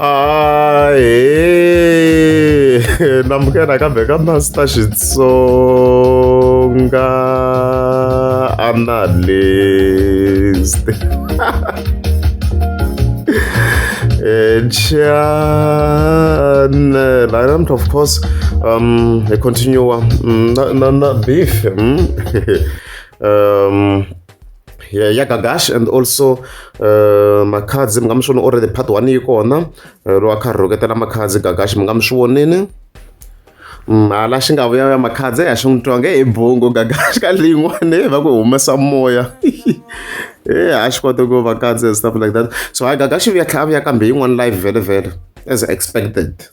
ae namukela kambe ka master xitsonga analyst channel i don't of course um i continue um, na, na, na beef mm? um ya ya gagash and also uh, makhadzi mi nga mi swi voni already part one yi kona uh, lowa kha rhoketela makhadzi gagash mi nga mi swi vonini mm, hala xi nga vuya ya makhadzi ya xi n'wi twa nge hi bongo gagash ka leyin'wana va ku humesa moya e a xi kota ku va kadzi and stuff like that so hayi gagash vuya tlhela a vuya kambe yin'wana live vhele vhele as expected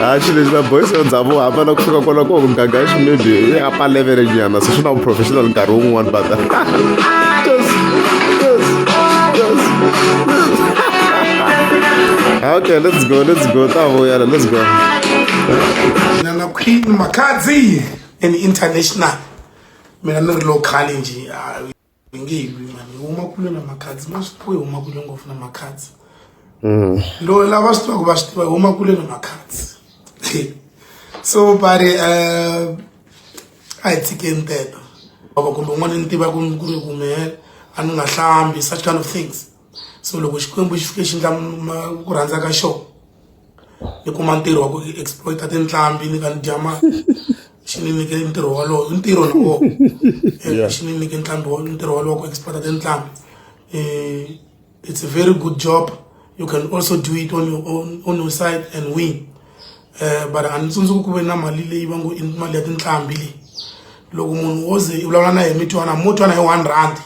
haxi lexi na boys ya ndhavuko hambana ku fika kwala ko muganga xi maybe i apa level nyana se swi na professional nkarhi wun'wani but okay let's go let's go ta vuyela let's go nana queen makadzi and international mina ni ri local nje hi nge hi lwi vanhu hi huma kule na makhadzi ma swi tiva hi huma kule ngopfu na makhadzi mm. lo lava swi tivaka va swi tiva hi huma kule na makhadzi so buddy uh, a hi tshikeni teto baba kumbe un'wana ni tiva ku ri kumele a ni nga hlambi such kind of things so loko xikwembu xi fike xi ndla ku rhandza ka xona ni kuma ntirho wa ku exploita tinhlambi ni ka ni dya mali xi ni nyike ntirho walowo i ntirho na wona eh, xi ni nyike ntlhambi wa ntirho walowo ku exploita tinhlambi um eh, it's a very good job you can also do it on your own on your side and win um but a ni tsundzuki ku ve na mali leyi va ngo i mali ya tinhlambi leyi loko munhu wo ze i vulavula na yena mi twana mo twana hi one rand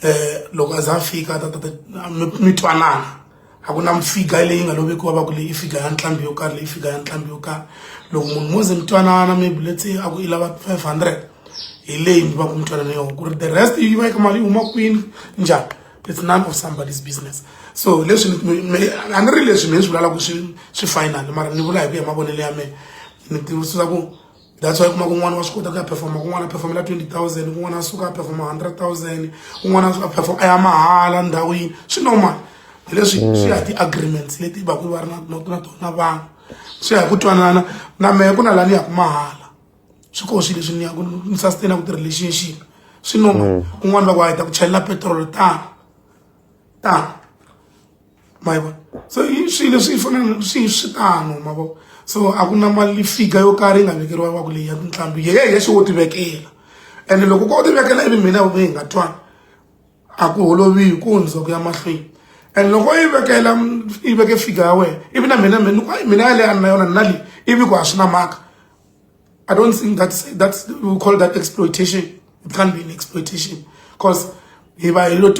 um loko a za a fika ta tata mi twanana a ku na mifiga leyi nga lovekiwa va ku leyi i figa ya ntlhambi yo karhi leyi figa ya ntlhambi yo karhi loko munhu mo ze mi twanana maybe let's say a ku i lava five hundred hi leyi mi va ku mi twanana yona ku ri the rest yi va yi ka mali yi huma kwini njhani it's none of somebody's business so leswi a ni ri leswi mehe swi vulalaka swi swi final mara ni vula hi ku ya mavonelo ya mehe ni tivusisa ku that's why kuma kun'wana wa swi kota ku ya performa kun'wana a performela twenty thousand kun'wana a suka a performa hundred thousand kun'wana a suka a performa a ya mahala ndhawini swi normal hi leswi mm. swi ya hi ti-agreements leti va ku va ri na na tona vanhu swi ya hi ku twanana na mehe ku na laha ni yaku mahala swi koho swi leswi ni yaku ni sustain ku ti-relationship swi normal mm. kun'wana va ku a hi ta ku chelela petrol tano tano ma yi vona so i swilo leswi fanele swi swi tano ma vo so a ku na mali fika yo karhi yi nga vekeriwa va ku leyi ya tinqambi ye ya xi wo ti vekela ene loko ko ti vekela ivi mina hi nga twani a ku holoviwi ku hundza ku ya mahlweni and loko yi vekela yi veke fika ya wena ivi na mina mina mina yaleyo a ni na yona ni na leyi ivi ku a swi na mhaka I don't think that's that's we call that exploitation. It can't be an exploitation because if I lot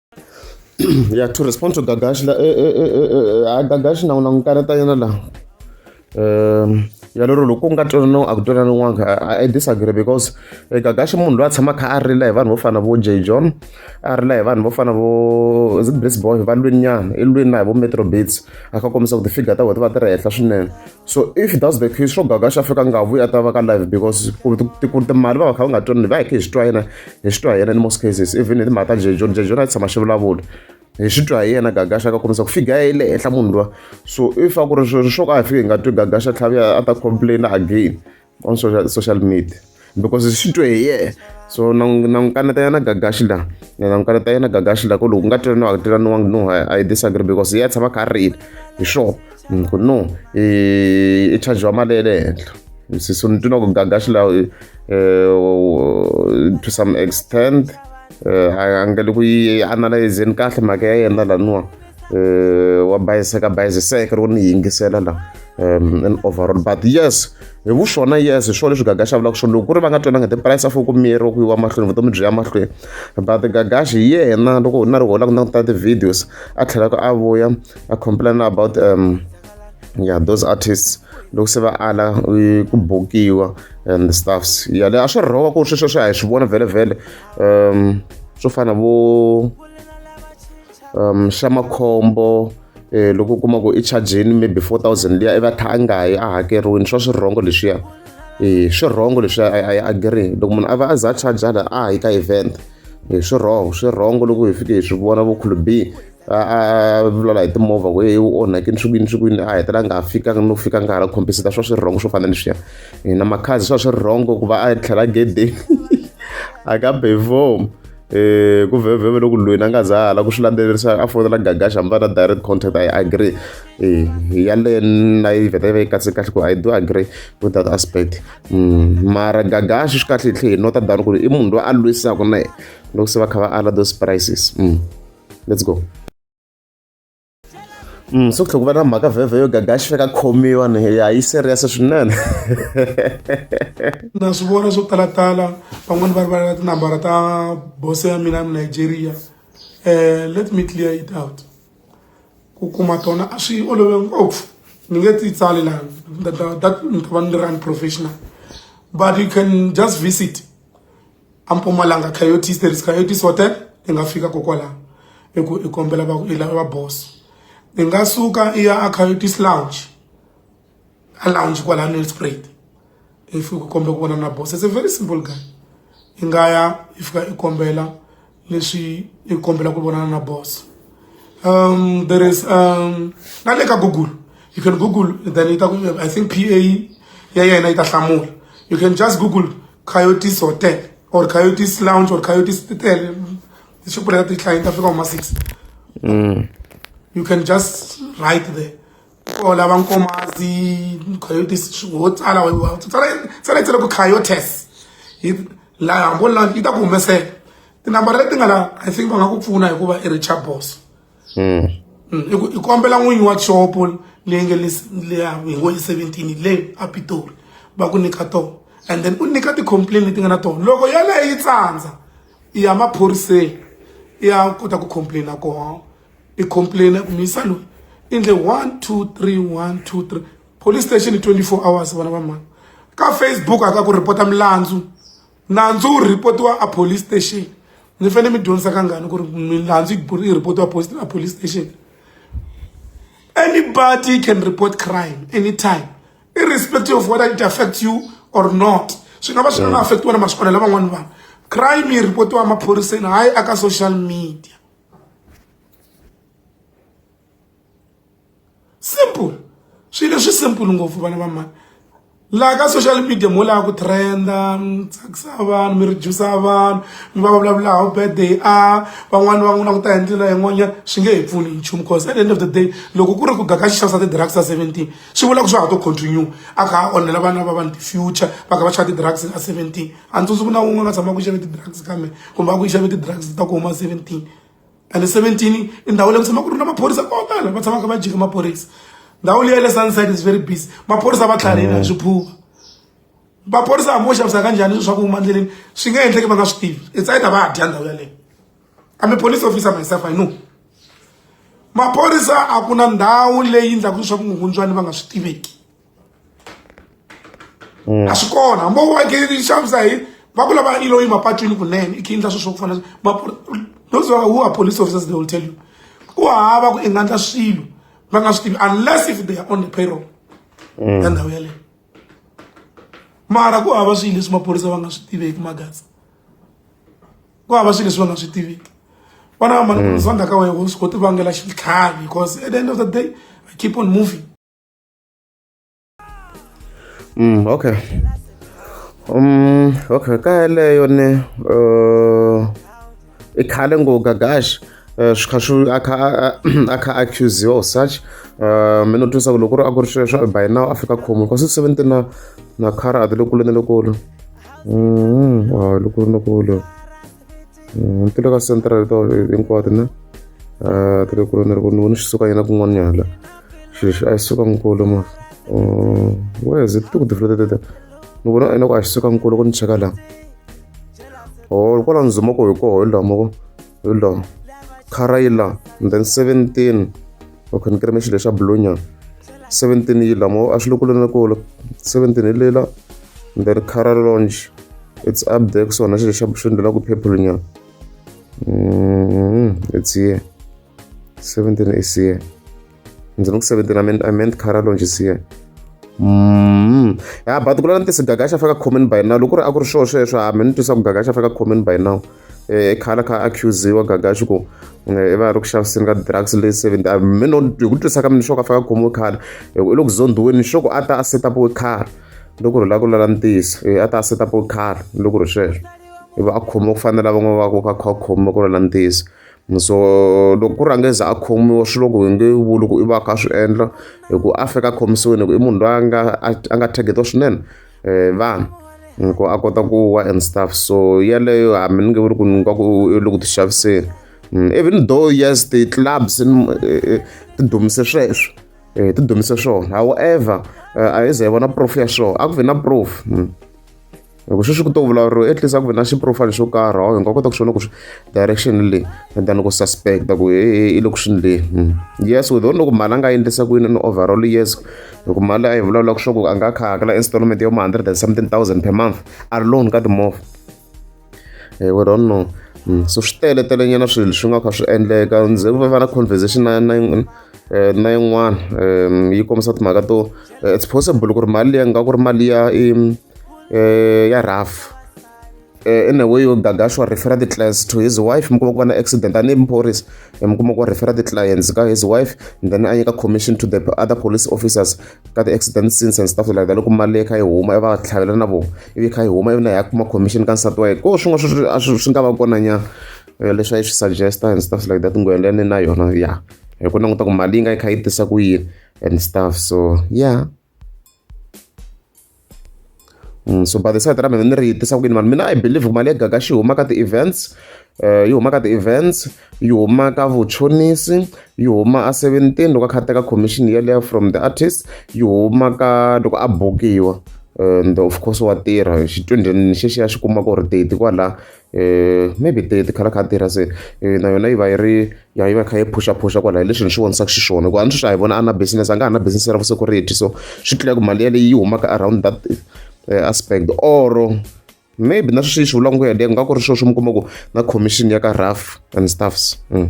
yeah to respond to gagashi la eh, eh, eh, a gagashi na un'wana karata yena la um ya lero loko ku nga twananiwa a ku twananiwanga i disagree because gagashi munhu loyi a tshama kha a rila hi vanhu vo fana vo j john a rila hi vanhu vo fana vo zibrisboy va lwininyana i lwini na hi vo metro bits a kha kombisa ku ti-figure ta vona ti va ti ri henhla swinene so if that's the case swo gaga xa fika nga vuyi a ta va ka live because ku ri timali va va kha va nga twanani va hi khe hi swi twa yena hi swi twa hi yena in most cases even hi timhaka ta jejoni jejoni a tshama xi vulavula hi swi twa hi yena gagaxa ka kombisa ku fika ya le henhla munhu lowa so if a ku ri swo ka hi fike hi nga twi gagaxa tlhavi a ta complaina again on social, social media because swi twe hi yena so na n'wi kaneta yena gagaxi la na n'wi kaneta yena gagaxi la ku loko ku nga tirhi no a ku tirhaniwangi no i disagree because ya tshama kha a rila hi sure mm, ku no i chargiwa mali ya le henhla so ni twina ku gagaxi la eh, to some extent eh, a nga le ku yi analyzeni kahle mhaka ya yena laniwa wa bayiseka bayisiseka loko ni yingisela la um in overall but yes hi vuswona yes hi swona leswi gagashi a vulaka swona loko ku ri va nga twananga the price afo ku miyeriwa ku yiwa mahlweni vutomi byi ya mahlweni but gagashi hi yena loko na ri hola ku languta ti-videos a tlhelaka a vuya a complaina about um yeah those artists loko se va ala ku bokiwa and stuffs ya le a swi rhoka ku ri sweswo swi a hi swi vona vhele vhele um swo fana vo xa makhombo loko u kuma ku i chajini maybe four thousand liya i va a kha a nga yi a hakeriwile swa swirhongo leswiya i swirhongo leswiya a yi agree loko munhu a va a za a charge hala a yi ka event hi swirhongo swirhongo loko hi fike hi swi vona vo khulubi a vulavula hi timovha ku heyi u onhakini swi kwini swi kwini a hetela nga fikanga no fika nga ha la khomphisita swa swi rhongo swo fana leswiya na makhazi swa swi rhongo ku va a tlhela gedeni a ka bevhomu um ku vhevheve loko lweni a nga za hala ku swi landzelerisa a fonela gagaxa mi va na direct contact i agree um yaleyo na yi vheta yi va yi katse kahle ku i do agree with that aspect mm, mara gagaxa swi kahle hi tlhe hi nota dani ku ri i munhu loyi a lwisaka na yena loko se va kha va ala those prices mm. let's go Mm, so tlhela ku va na mhaka vhevhe yo gagaxi fika khomiwa ni ya yi serious swinene na swi vona swo talatala van'wani va ri va na tinambara ta bose ya mina nigeria um let me clear it out ku kuma tona a swi olove ngopfu ni nge ti tsali laha that ni ta va ni ri unprofessional but you can just visit a mpumalanga coyotes there is coyotes hotel i nga fika kokwalaho i ku i kombela va i lava boss i nga suka i ya a coyotes lounge a lounge kwala nelspruit if u kombela ku vona na boss it's a very simple guy i nga ya i fika i kombela leswi ni kombela ku vonana na boss um there is um na le ka google you can google then yi ta ku i think p a ya yena yi ta hlamula you can just google coyotes hotel or coyotes lounge or coyotes hotel swi pfuleka ti-client ta fika huma six mm. you can just write there ko lava nkomazi coyotes wo tsala wa tsala tsala ku coyotes yi laha hambo la yi ta ku humesela tinambara leti nga la i think va nga ku pfuna hikuva i richard boss hmm. Hmm, i ku i kombela n'winyi wa xopo leyi nge leya hi ngo i seventeen leyi a pitori va ku nyika tona and then u nyika ti-complain leti nga na tona loko yaleyo yi tsandza i ya maphoriseni i ya kota ku complaina kona i complain ku misa loyi i ndle one two three one two three police station i 24 hours vana va mhani ka facebook a ka ku rhipota milandzu nandzu wu rhipotiwa a police station ni fanele mi dyondzisa kangani ku ri milandzu yi rhipotiwa a police station anybody can report crime anytime irrespective of whether it affects you or not swi nga va swi nga nga affect wena masiku lavan'wani vanhu crime yi rhipotiwa emaphoriseni hayi aka social media simple swilo leswi simple ngopfu vana va mani laha ka social media mo lava ku trenda mi tsakisa vanhu mi redusa vanhu mi va va vulavula how bad they are van'wani va n'wi languta hi ndlela yin'wanyana swi nge hi pfuni nchumu cause at the end of the day loko ku ri ku gaka xixavisa ti-drugs ta seventeen swi vula ku swa ha to continue a kha a onhela vana va vanhu ti-future va kha va xava ti-drugs ta seventeen a ni tsundzuki na wun'we nga tshama ku xave ti-drugs ka me kumbe a ku xave ti-drugs ta ku huma seventeen ene seventeen i ndhawu leyi ku tshama ku ri na maphorisa ko tala va tshamaka va jike maphorisa ndhawu leyi ya le sunside is very busy maphorisa va tlharihile hi swiphuva maphorisa hambi wo xavisa ka njhani swilo swa ku huma endleleni swi nga endleki va nga swi tivi it's either va dya ndhawu yaleyo i'm a police officer myself i know maphorisa a ku na ndhawu leyi endlaku leswaku nghundzwani va nga swi tiveki a swi kona hambi u akeli xavisa hi va ku lava ilo yi mapatwini kunene i khe endla swilo swa ku fana those who are police officers they will tell you ku hava ku i nga endla swilo va nga swi tivi unless if they are on the payroll mm. ya ndhawu yaleyo mara ku hava swilo leswi maphorisa va nga swi tiveki magasi ku hava swilo leswi va nga swi tiveki vana va mani mm. zonda ka wena u swi koti vangela xitlhavi because at the end of the day i keep on moving Mm, okay. Um, okay, ka yeleyo ni uh, i khale ngo gagash uh, swi kha swi a kha a- a kha accusiwa or such uh, mi no twisa ku loko ku ri a ku ri sweswo by now a fika khomo kasi seventy na na khara a ti lokulu ni lokulu Mm, wa lokulu lokulu Mm, ti le ka central to hinkwato na ah, ti le kule ni ri ku ni vone xi suka yena kun'wanyana la xilo xi a xi suka nkulu ma mm, wes ti ku tifula tete ni vona ina ku a xi suka nkulu ku ni cheka la o oh, kwala ni zuma ku hi koho hi laha moko hi laha khara yi laha and then seventeen o khonekere me xilo xa bulunya 17 yi lamo a swi le kule na kule 17 hi lela then cara launch it's up there kusona xilo xa swi ndlela ku purple nyana mm-hmm. it's here 17 is here ndzi ni ku 17 i meant, I meant cara launch is here Mm. ya but ku lana tisigaga xa faka comment by now loko ri a ku ri swo sweswo hambi ni twisa ku gaga xa faka comment by now eh, i khala kha accusiwa gaga xi ku eh, i va ri ku xaviseni ka drugs leyi seven ah, mino hi ku twisa ka mina xo ka faka khomiwe khara hi ku i le ku zondhiweni xo ku a ta a setapiwe khara loko ri lava ku lala ntiyiso eh, a ta a setapiwe khara loko ri sweswo i va a khomiwa ku fanela van'wana va ku ka kha khomiwa ku lala ntiyiso so loko ku rhange za a khomiwa swi loko hi nge vuli ku i va kha swi endla hi ku a fika khomisiweni hi ku i munhu loyi a nga a nga targetiwa swinene eh, vanhu ku a kota ku wa and stuff so yeleyo hambi ni nge vuri ku ni nga ku i le ku ti xaviseni mm, even though yes ti-clubs eh, eh, ti dumise sweswo um ti dumise swona however a yi ze hi vona proof ya swona a ku vi na proof mm. loko sweswi ku to vulavuriwa at least a ku vi na xiprofile xo karhi awu hi nga kota ku swona ku direction leyi than ku suspecta ku i le ku swini leyi mm. yes we don't know ku mali a nga endlisa ku yini ni overall yes loko mali leyi a yi vulavula ku swa ku a nga kha hakela installment yo ma hundred and something thousand per month a ri loan ka timovha eh, we don't know hmm, so swi tele telenyana swilo swi nga kha swi endleka ndzi va va na conversation na na eh, na yin'wana um yi kombisa timhaka to eh, it's possible ku ri mali leyi nga ku ri mali ya ya rough Eh, in a way yo gaga sure refer the clients to his wife mi kuma ku va na accident tanihi muphorisa eh, mi kuma ku refer the clients ka his wife and then a nyika commission to the other police officers ka the accident scenes and stuff like that loko mali leyi kha yi huma va tlhavela na vona ivi kha yi huma ivi na ya kuma commission ka nsati wa yena ko swin'wana swi nga va kona nyana eh, leswi a yi swi suggesta and stuff like that ngwelene na yona ya hi ku languta ku mali yi nga yi kha yi tisa ku yini and stuff so yeah Mm, so by the side ra mina ni ri tisa ku yini vanhu mina i believe ku mali ya gaga xi huma ka ti-events um yi huma ka ti-events yi huma ka vuchonisi yi huma a seventeen loko a kha a teka commission yeleyo from the artist yi huma ka loko a bukiwa and of course wa tirha xichudeni xexiya xi kuma ku ri teti kwala eh, maybe the the khalaka tirha se eh, na yona yi va yi ri ya yi va kha yi phusha phusha kwala hi leswi ni swi vonisaka xiswona hikuva a ni swi swi hi vona a na business a nga ha na business ra vusecurity so swi tlula ku mali yaleyi yi humaka around that eh, aspect or maybe na sweswi yi swi vulaka ku yaleyo nga ku ri sweswo mi kuma ku na commission ya ka rough and stuffs mm.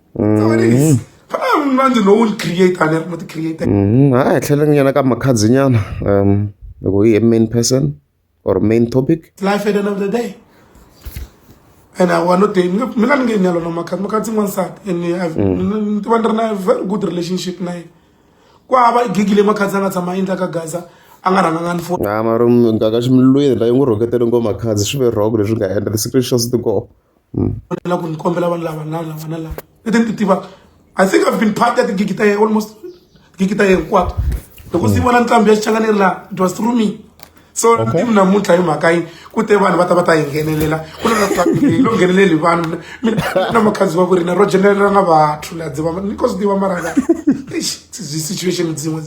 mm-hmm. a hi tlheleng nyana ka makhadzi nyana um loko hi main person or main topic life at the end of the day and I want to tell me la nge nyalo na makati makati n'wansati and I've mm. ni tiva ni ri na very good relationship na yena ku hava gigi leyi makati a nga tshama endla ka gaza a nga rhanganga ni foni a mara ngaka ximilweni la yi n'wi rhoketele ngo makhazi swi ve wrong leswi nga endla the secret shows to go hmm. va tlhela ku ni kombela vanhu lava na lava na lava leti ni ti tivaka i think i've been part ya tigigi ta ye almost tigigi ta ye hinkwato loko si hmm. vona nqambi ya xichangani ri laha it was through me so ni mi namuntlha hi mhaka yini ku te vanhu va ta va ta hi nghenelela ku na hi lo ngheneleli vanhu mina na makhanzi wa ku rina ro jenelela nga vathu la dziva ni ko swi tiva mara nga zi situation dzin'we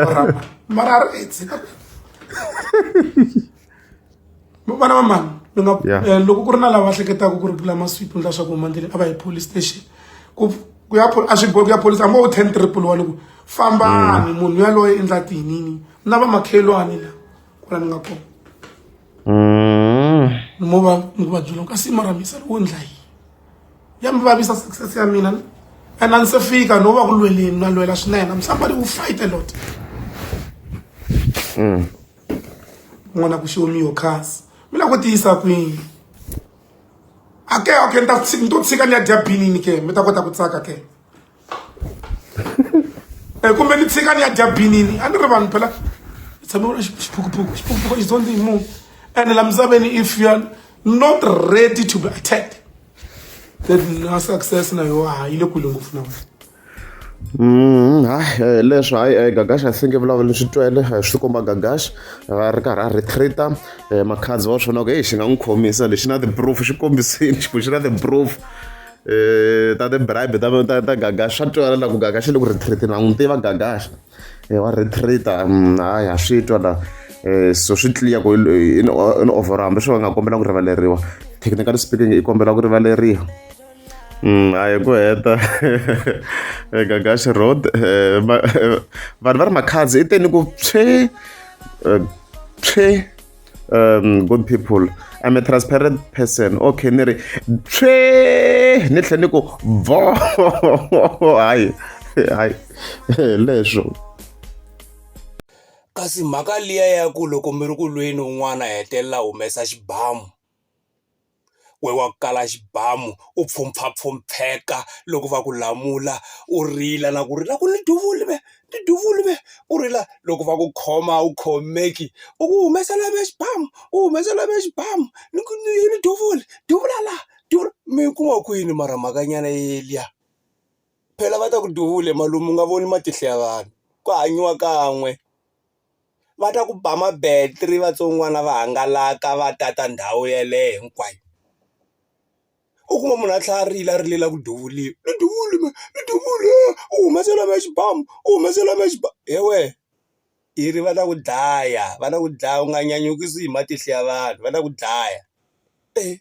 mara mara ri vana va mani ni nga eh, loko ku ri na lava hleketaka ku ri bula masweep ni leswaku huma ndleleni a va hi police station ku ku ya a swi bohi ku ya police hambi wo ten triple one ku fambani mm. munhu yaloye i ndla tinini na va makhelwani la ku la ni nga kona mm. ni mo va ni ku va byela kasi mara misa wo ndla yini ya mi vavisa success ya mina and a ni se fika no va ku lweleni na lwela swinene i'm somebody who fight a lot mm. n'wana ku show me your cars mi la ku tiyisa kwini ake okay ni ta ni to tshika ni ya dya binini ke mi ta kota ku tsaka ke um kumbe ni tshika ni ya dya binini a ni ri vanhu phela hi tshame vona xiphukuphuku xiphukuphuku is on the moon ene la misaveni if you are not ready to be attacked then na success na yoho a yi le kule ngopfu na wena Mm, hayi eh, leswi hayi eh, gagash i think vulavula swi twele eh, swi komba gagash a ri karhi a retreata makhadzi wa swona ku heyi xi nga n'wi khomisa lexi na ti-proof xi kombisini xiku xi na ti-proof um ta ti-bribe ta gagash swa twala la ku gagash le ku retreatini va n'wi tiva gagash wa retreata mm, hayi ha swi twa la um so swi tliya ku in overhambi swi va nga kombela ku rivaleriwa technically speaking i kombela ku rivaleriwa Mm, a hi ku heta gagaxi road eh, ma- eh, vanhu va ri makhadzi i teni ku pshe eh, pshe um good people i'm a transparent person okay ni ri pshe ni tlhe ni ku vo hayi hayi leswo kasi mhaka liya ya ku loko mi ri ku lweni un'wana a hetelela a humesa xibamu we wa ku kala xibamu u pfhumpfha pfhumpheka loko va ku lamula u rila na ku rila ku ni duvule me ni duvule me u rila loko va ku khoma a wu khomeki u ku humesela me xibamu u humesela me xibamu ni ku ni ni duvule duvula la duvula mi ku va ku yini mara mhakanyana yeliya phela va ta ku duvule malume u nga voni matihlo ya vanhu ku hanyiwa kan'we. va ta ku ba ma-battery vatsongwana va hangalaka va tata ndhawu yeleyo hinkwayo u kuma munhu a tlhela a rila a rilela ku duvuriwa ni duvule mehe ni duvule u humesela mehe xibamu u humesela mehe xibamu he wena i ri va ta ku dlaya va ta ku dlaya u nga nyanyukisi hi matihlo ya vanhu va ta ku dlaya e.